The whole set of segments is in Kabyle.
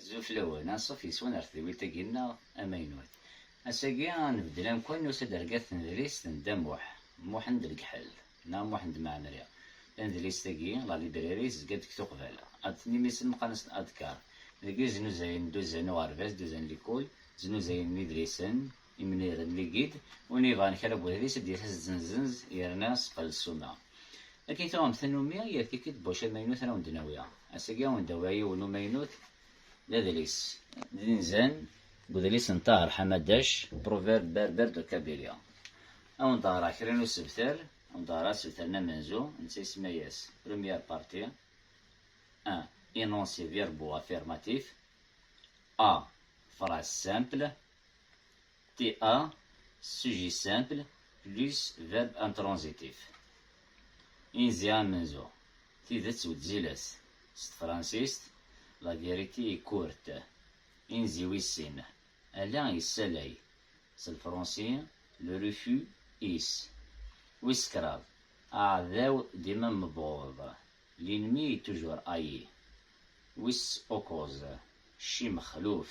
Azul fell-awen, anṣuf yes-wen ar tedwilt-agi nneɣ amaynut. Ass-agi a nbeddel amkan n usadergat tnedlist n Dda Muḥ, Muḥend Legḥel, neɣ Muḥend Mɛemmri. Tanedlist-agi, la librairie, tezga-d deg Tuqbala, ad d-tini mi senqan-as-d Adkar, deg iznuzayen n Duzan uɣerbaz, Duzan Likul, znuzayen n yidlisen, Imni d ligid, win yebɣan kra n wedlis ad d-yas as-d-zenzenz yerna seqqel ssuma. Akken i tuɣemt tannumi, yal tikkelt buci amaynut ara wen-d-nawi. Ass-agi ad wen-d-awiɣ yiwen n umaynut d adlis. D inzan n udlis n Taher Hamadac, Proverbes berbères de Kabylie. Ad wen-d-ɣreɣ kra n usebter, ad wen-d-ɣreɣ asebter n amenzu, netta isemma-yas, Première partie, un énoncé verbo-affirmatif, a, phrase simple, TA, sujet simple plus verbe intransitif. Inzi amenzu, tidet wezzilet, s tefransist, la vérité est courte. Inzi wis sin, ala yessalay, s lefransi, le refus is. Wis kraḍ, aɛdaw dima mebɣuḍ, l'ennemi est toujours haï. Wis ukkuẓ, cci mexluf,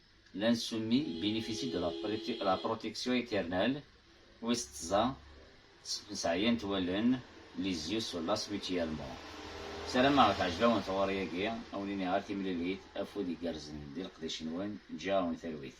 L'insoumis bénéficie de la protection éternelle, wis tẓa, sseɛyant wallen, les yeux se lassent mutuellement. Sarameɣ teɛjeb-awen tɣuri-agi, a wen-iniɣ ar timlilit, afud igerrzen di leqdic-nwen, ǧǧiɣ-awen talwit.